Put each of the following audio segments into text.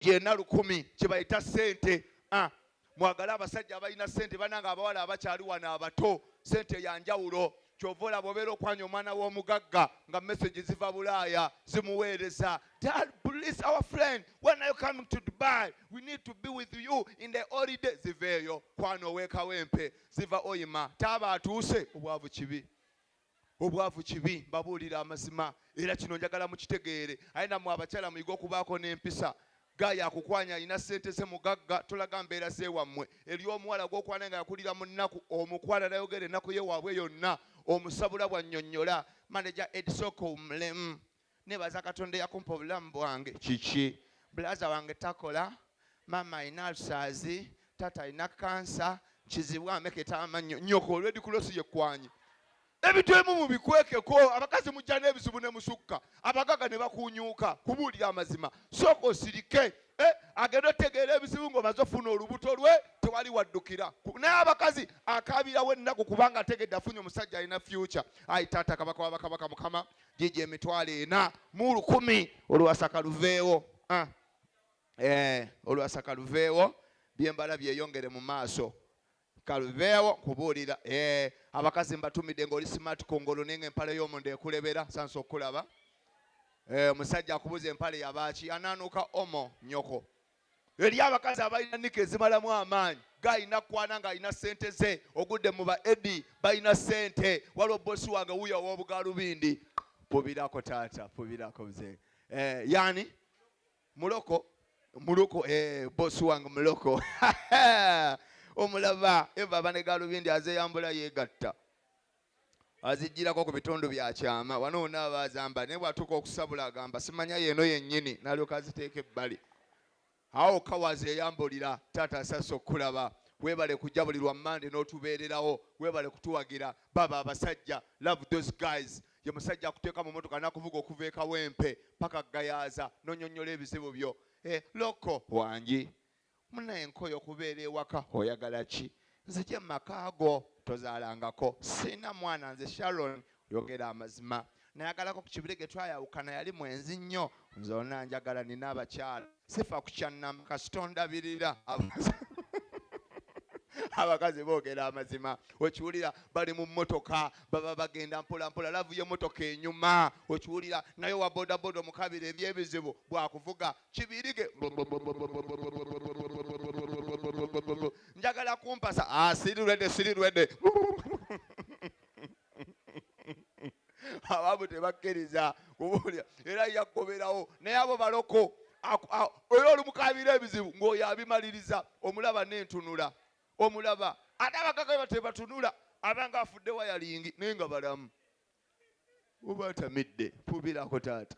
yena lukumi kyebayita sente ah, mwagale abasajja abalina sente bananga abawala abakyali wano abato sente yanjawulo kyova olaba obeera okwanya omwana w'omugagga nga message ziva bulaaya zimuweereza dad please our friend when are you coming to dubai we need to be with you in the holiday ziveeyo kwana owekawempe ziva oyima taaba atuuse obwavu kibi obwavu kibi mbabuulira amazima era kino njagala mukitegeere aye namwe abakyala muyige okubaako n'empisa ga yakukwanya alina sente ze mugagga tulaga mbeera zewammwe eri omuwala gwokwana nga yakulira mu nnaku omukwana nayogera ennaku ye waabwe yonna omusabula bwannyonnyola maneja edisoko mulemu nebaza katonda eyakumpa obulamu bwange kiki bulaza wange takola maama alina alusaazi taata alina kansa kizibu ameketa amannyo nyoko olwedi kulosi yekwanye ebintu ebimu mubikwekeko abakazi mujja n'ebizibu ne musukka abagaga ne bakunyuuka kubuulira amazima sooka osirike eh, agenda otegeera ebizibu ng'omaze ofuna olubuto lwe tewali waddukira naye abakazi akaabirawo ennaku kubanga ategedde afunye omusajja alina fyuca ayi taata kabaka wabakabaka mukama gigye emitwalo ena mu lukumi olwasaka luveewo ah. eh, olwasaka luveewo byembala byeyongere mu maaso kaluveewo kubuulira eh, abakazi mbatumidde ngaoli smart kungulu ninga empale y'omunda ekulebera sansa okulaba eh, omusajja akubuza empale yabaaki anaanuuka omo nyoko eri abakazi abalina nika ezimalamu amaanyi galina kwana ng'alina sente ze ogudde mu ba edi balina sente waliwo bosi wange wuyo ow'obugalubindi pubirako taata pubirako mzee eh, yani muloko muloko eh, bosi wange muloko omulaba eva abanegalubindi azeyambula yegatta azijjirako ku bitundu bya kyama wano wona aba azamba naye bwatuuka okusabula agamba simanya yeeno yennyini nalyoka aziteeka ebbali awo kawazi eyambulira taata sasa okukulaba webale kujja buli lwa mande n'otubeererawo webale kutuwagira baba abasajja love those guys ye musajja akuteeka mu motoka nakuvuga okuva ekawempe paka gayaza nonyonyola ebizibu byo eh, loko wangi munaye nkoye okubeera ewaka oyagala ki nzije mumakaago tozaalangako siina mwana nze sharon yogera amazima nayagalako ku kibire ge twayawukana yali mwenzi nnyo nze ona njagala nina abakyala sifa ku kyannama kasitondabirira abakazi boogera amazima okiwulira bali mu mmotoka baba bagenda mpolampola lavu y'emmotoka enyuma okiwulira naye owa bodaboda omukabira ebyebizibu bwakuvuga kibirige njagala kumpasa ah, siri rwede siri rwede abamu tebakkiriza kubuulira era yakkoberawo naye abo baloko era olumukabira ebizibu ng'oyo abimaliriza omulaba n'entunula omulaba ate abagagaba tebatunula abanga afudde wayalingi naye nga balamu oba atamidde fubirako taata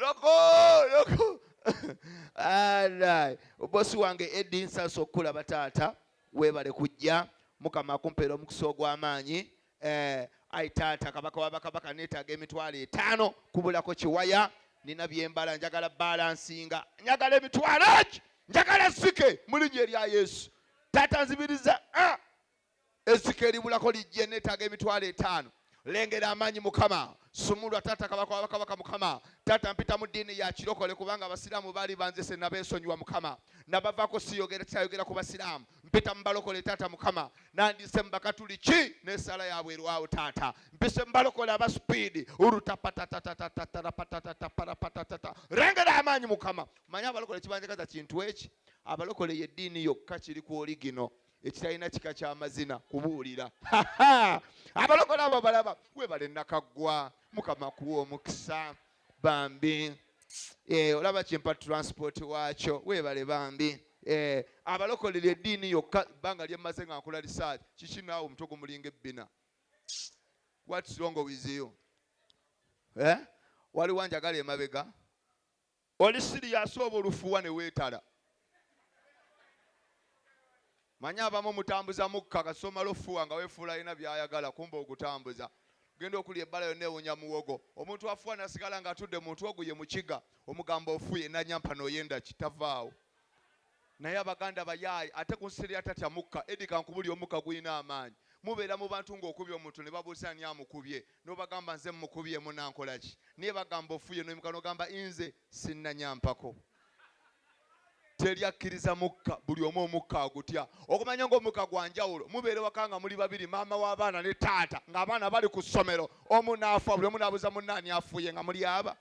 loko loko obosi wange edi nsasa okukulaba taata webale kujja mukama akumpeera omukisa ogw'amaanyi eh, ai taata kabaka wabakabaka neetaaga emitwalo etaano kubulako kiwaya nina byembala njagala balansinga njagala emitwalo eki njagala sike mu linnya erya yesu taata nzibiriza ah! Ezzike eribulako lijja eneetaaga emitwalo etaano. Lengera amaanyi Mukama, sumulwa taata kabaka wa bakabaka Mukama, taata mpita mu ddiini ya kirokole kubanga abasiraamu baali banzise nabeesonyiwa Mukama, nabavaako siyogera kyayogera ku basiraamu, mpita mu balokole taata Mukama, nandise mu bakatuliki n'esaala yaabwe erwawo taata, mpise mu balokole aba sipiidi urutapatatatatatatarapatatataparapatata lengera amaanyi Mukama, manya abalokole kibanjagaza kintu eki, abalokole y'eddiini yokka kiri ku oligino. ekitalina kika kyamazina kubuulira abalokola abo balaba webale nakaggwa mukama kuwa omukisa bambi eh, olaba kimpa transport waakyo webale bambi eh, abalokolera eddiini yokka ebbanga lyemmaze nga nkola risaaki kiki naawe omutwe gumulinga ebbina what's wrong with you eh? waliwo njagala emabega Oli siriyasi oba olufuwa ne weetala? Manyi abamu mutambuza mukka kasita omala ofuwa nga weefuula alina by'ayagala kumba ogutambuza. Genda okulya ebbala yonna ewunya muwogo. Omuntu afuwa n'asigala ng'atudde mu muntu ogwo ye mukiga. Omugamba ofuye n'anyampa n'oyenda ki? Tavaawo. Naye abaganda bayaaye ate kunsiri atatya mukka Eddy kankubulire omukka gulina amaanyi mubeera mubantu nga okubye omuntu nebabuuza ani amukubye nobagamba nze mukubye munankolaki naye bagamba ofuye noimuka nogamba inze sinanyampako teri akkiriza mukka buli omu omukka agutya okumanya nga omukka gwanjawulo mubeera ewaka nga muli babiri maama w'abaana ne taata ng'abaana bali ku ssomero omu naafa buli omu naabuuza munnaani afuye nga muli aba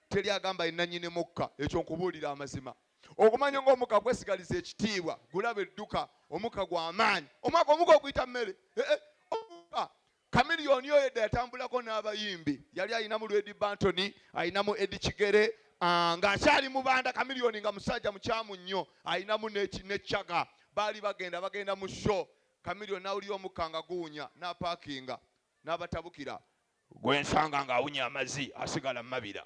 teri agamba yenanyini mukka ekyo nkubuulira amazima okumanya nga omuka kwesigaliza ekitiibwa gulaba edduka omuka gwamaanyi omwaka omuka okuyita mmere eh, eh, omuka kamiliyoni oyo edda yatambulako n'abayimbi yali alinamu lwedi bantony alinamu edi kigere ah, ng'akyali mubanda kamiliyoni nga musajja mukyamu nnyo alinamu nekyaga baali bagenda bagenda mu sho kamiliyoni nawulira omuka nga guwunya n'apaakinga n'abatabukira gwe nsanga ng'awunya amazi asigala mumabira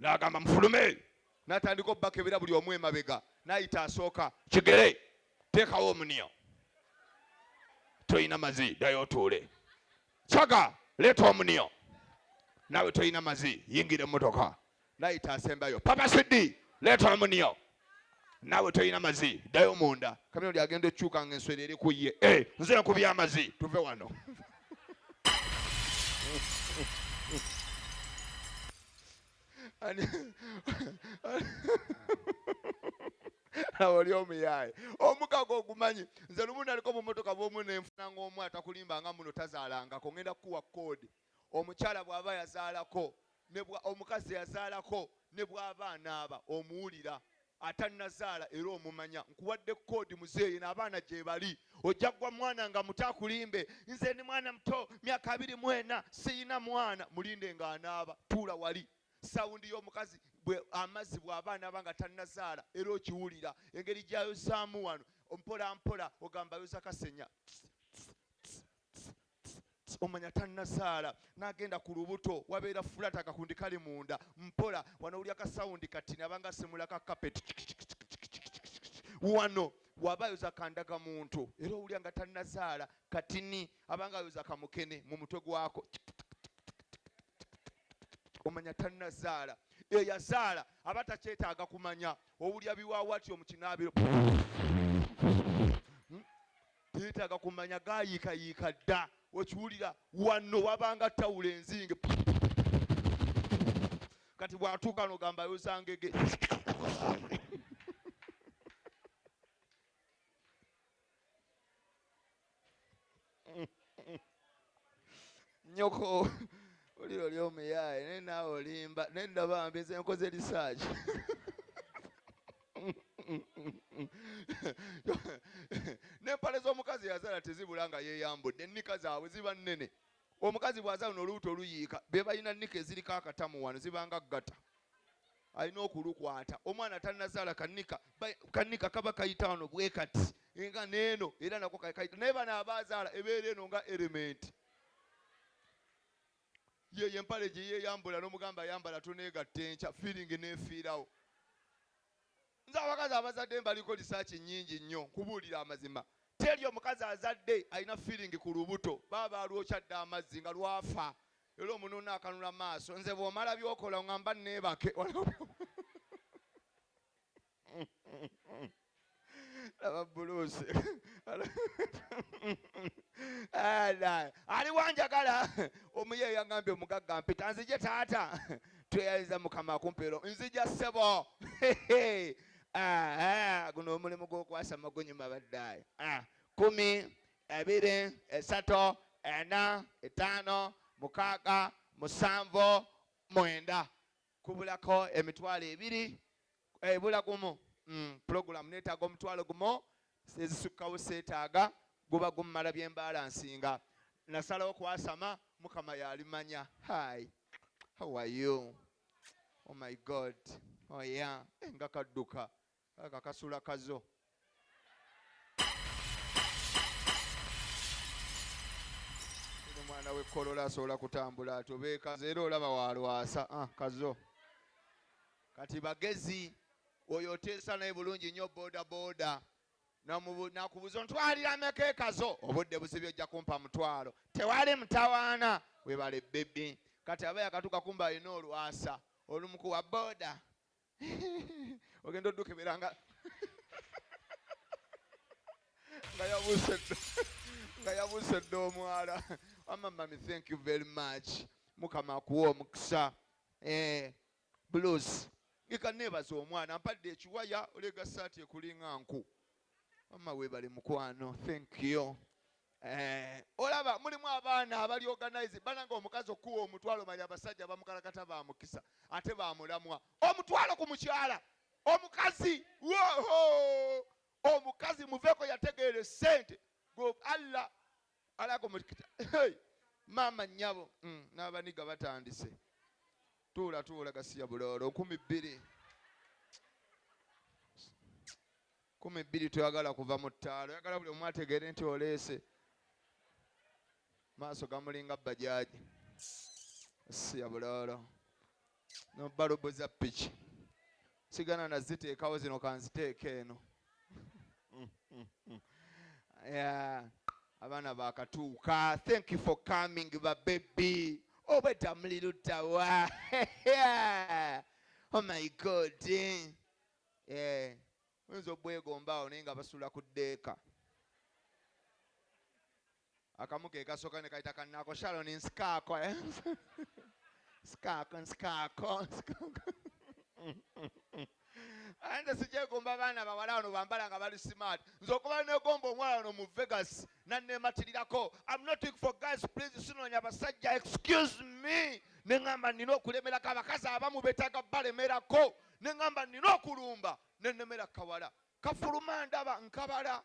n'agamba mufulume n'atandika obubakebera buli omu emabega n'ayita asooka kigere teekawo omuniya tolina mazi ddayo otuule caga leeta omuniya naawe tolina mazi yingira emmotoka nayita asembayo papa sidi leeta omuniyo naawe tolina mazi ddayo munda kamiro lyagenda ekyuka nga enswera eri ku ye eh, nze nkubya amazi tuve wano awo oli omuyaaye omukago ogumanyi nze lumu naliko mu motoka bwomu nenfuna ngaomu atakulimba nga muno tazaalangako ngenda kukuwa koodi Omukyala bw'aba yazaalako ne bwa, omukazi eyazaalako ne bw'aba anaaba, omuwulira. Atannazaala era omumanya. Nkuwadde kkoodi, muzeeyi, eno abaana gye bali. Ojja kugwa mwana nga muto akulimbe, Nze ndi mwana muto, myaka abiri mu ena, sirina mwana. Mulinde nga anaaba. Tuula wali. Sawundi y'omukazi bwe, amazzi bw'aba anaaba nga tannazaala, era ogiwulira. Engeri gy'ayozaamu wano, mpolampola, ogamba ayoza kasenya. Tss, tss, tss, tss, tss. Tts omanya tanazaala nagenda ku lubuto wabeera flat akakundi kali munda mpola wano wulira ka sound kati nabanga asimula ka carpet wano waba ayoza kandaga muntu era owulira nga tanazaala katini abanga ayoza kamukene mu mutwe gwako omanya tanazaala eyazaala aba takyetaaga kumanya owulira biwawatyo mu kinaabiro Teetaaga kumanya gaayiikayiika dda. Okiwulira? Wano wabanga ttawulo enzinge. Kati bw'atuuka n'ogamba ayoza ngege. nyoko oli oli omuyaye naye naawe olimba naye ndabambi nze nkoze risaaki n'empale z'omukazi yazala tezibula nga yeeyambudde ennika zaabwe ziba nnene omukazi bw'azala no olubuto oluyiika be balina nnika eziriko akatamu wano zibanga ggata alina okulukwata omwana tanazaala kanika kanika kaba kayita wano bwe kati nga neeno era nako kayita naye bano abaazaala ebeera eno nga erementi Yeyo empale gyeyeyambula nomugamba ayambala tonegatta enkya feeling nefiirawo. Nze abakazi abazadde mbaliko research nyingi nnyo nkubuulire amazima. Teri omukazi azadde alina feeling ku lubuto baba balwokya dda amazzi nga lwafa era omununna akanula maaso nze bwomala byokola ongamba nebake walayi. laba buluusi aliwo njagala omuye yagambye omugagga mpita nzije taata tweyaliza mukama kumpeero nzija ssebo guno omulimu gwokwasa magunyuma baddaye ah, kumi ebiri esatu ena etaano mukaaga musanvu mwenda Kubulako emitwalo ebiri ebula eh, gumu mm, pulogulamu neetaaga omutwalo gumu ezisukkawo seetaaga guba gumumala byembaala nsinga nasalawo kwasama mukama yalimanya hi how are you oh my god oh yeah eh, nga kadduka Kalabika kasula kazo. Omwana w'ekkolola asobola kutambula atyo beekaze era olaba waalwasa ah, kazo kati bagezi oyo oteesa naye bulungi nnyo boda boda nakubuza ntwalira meka ekazo obudde buzibi ojja kumpa mutwalo tewali mutawaana webale bebi kati aba yakatuka kumba alina olwasa olumukuwa boda ogenda odukebera nga nga yabuuse nga yabuuse dda omwala wama mami thank you very much mukama akuwa omukisa eh, blues ika nebaza omwana mpadde ekiwaya olega saati ekulinga nku wamma webale mukwano thank you Eh, olaba mulimu abaana abali organize bananga omukazi okuwa omutwalo mali abasajja bamukalakata ba mukisa ate bamulamwa omutwalo ku mukyala omukazi woho omukazi muveeko yategeere sente gwe allah alako mukita hey! maama nyabo mm, n'abaniga batandise tuula tuula gasiya buloolo kumi bbiri kumi bbiri toyagala kuva mu ttaalo oyagala buli omu ategeere nti oleese maaso gamulinga bajaaji siya buloolo no balobo za piki sigana naziteekawo zino kanziteeka eno yeah. abaana bakatuuka thank you for coming babebi obwedda oh, muli luddawa oh my god eh, oyinza obwegombaawo naye nga basula ku deeka Akamu ke kasooka ne kayita kannaako Sharon nsikaako eh? nsikaako nsikaako nsikaako aye nze sikyegomba baana bawala wano bambala nga bali smart nze okuba negomba omwana wano mu vegas nannematirirako am not looking for guys please sinoonya basajja excuse me ne ŋamba nina okulemerako abakazi abamu betaaga balemerako ne ŋamba nina okulumba nenemera kawala kafuluma ndaba nkabala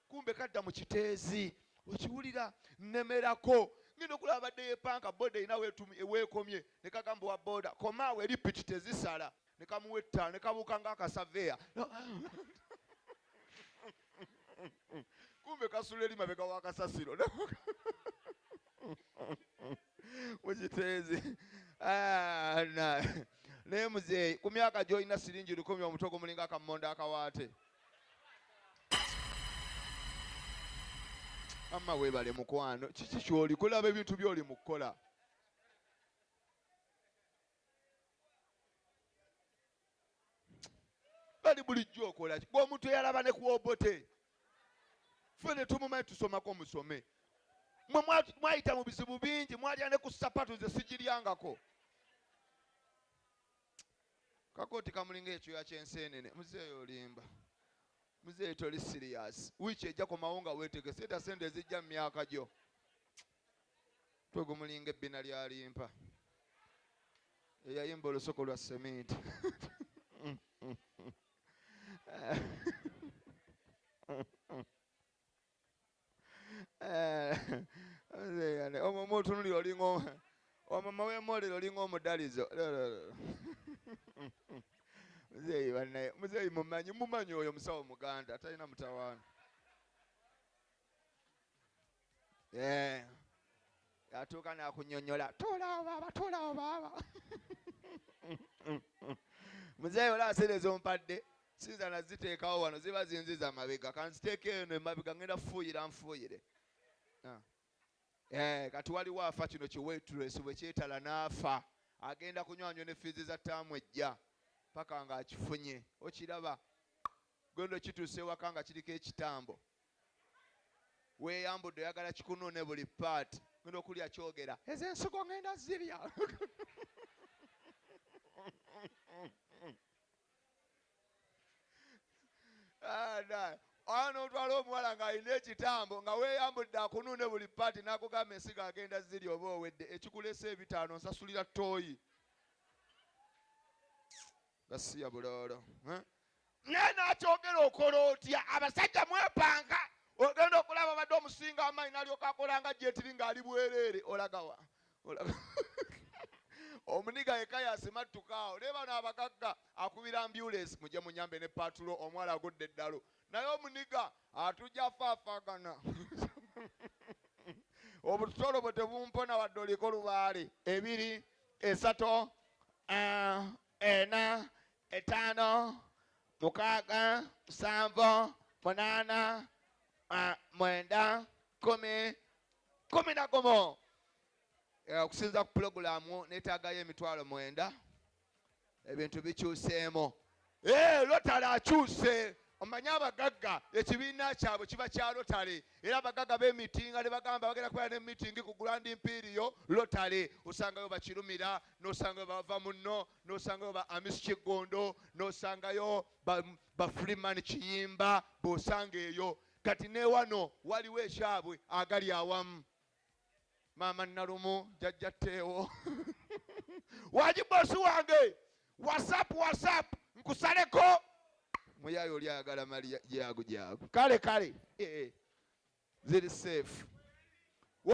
Kumbe kadda mu kiteezi. Okiwulira nnemerako. Ngenda okulaba abadde yeepanka boda erina w'ekomye ne kagamba owa boda, Koma awo eri piki tezisala. Ne kamuwa ettaala ne kabuuka ng'akasaveya. Kumbe kasula eri mabega wa kasasiro mu kiteezi. Ah, Naye muzeeyi, ku myaka gy'olina siringi lukumi omuto gumulinga akammonde akawaate. mama webale mukwano kiki kyoli kulaba ebintu byoli mukukola bali bulijjo okola gwe omuntu eyalaba ne kuobote fe ne tumumanyi tusomako musome mwe mwayita mu bizibu bingi mwalya ne ku sapatu ze sigiryangako Kakooti kamulinga ekyoya ky'enseenene. Muzeeyi olimba. Muzeeyi toli siriyaasi. Wiiki ejja komawo nga weetegese edda ssente ezijja mu myaka gyo. Mutwe gumulinga ebbina lya limpa eyayimba olusoko lwa seminti. omutunuli olinga omama wemolero olinga omudalizo muzeeyi banaye muzeeyi mumanyi mumanyi oyo musawo muganda atalina mutawaana yeah. atuuka nakunyonyola tolawo baaba tolawo baaba muzeeyi ola aseera ezompadde sinza naziteekawo wano ziba zinziza mabega kanziteeka eno emabega ngenda fuuyira nfuuyire ah. eh, kati waliwo afa kino kiwetresi bwekyetala naafa agenda kunywanywa ne fiizi za taamu ejja paka nga akifunye okiraba gwendo kituuse ewaka nga kiriko ekitambo Weyambudde oyagala kikunune buli part. Ngenda okulya kyogera. Ezo ensigo ngenda zirya. Ah, Awo n'otwala omuwala ng'alina ekitambo nga weeyambudde akunuune buli paati n'akugamba ensigo agenda ziri oba owedde ekikulesa ebitaano nsasulira ttooyi. gasiya buloolo eh? naye nakyogera okola otya abasajja mwepanga ogenda okulaba badde omusinga amaanyi nalyoka akolanga jetiri ngaali bwereere olagawa omuniga yeka yasimattukaawo naye bano abagagga akubira ambulensi muje munyambe ne patulo omwala agudde eddalu naye omuniga atujja faafagana obutolo bwe tebumpona wadde oliko lubaale ebiri Esato, uh, ena, etano, mukaga, musanvo, munana, uh, mwenda, kumi, kumi na gumu. Eh, okusinza ku pulogulaamu neetaagayo emitwalo mwenda ebintu bikyuseemu eh, lotale akyuse omanyi abagagga ekibiina kyabwe kiba kya lotale era abagagga bemitinga ne bagamba bagenda kubeera ne mitingi ku grand imperiyo lotale osangayo bakirumira nosangayo bava munno nosangayo ba amis kiggondo nosangayo ba freeman kiyimba bosanga eyo kati newano waliwo ekyabwe agali awamu maama nalumu jajja teewo wagi bosi wange whatsapp whatsapp nkusaleko muyayo oli ayagala mali jagu jagu kale kale eh, eh. ziri safe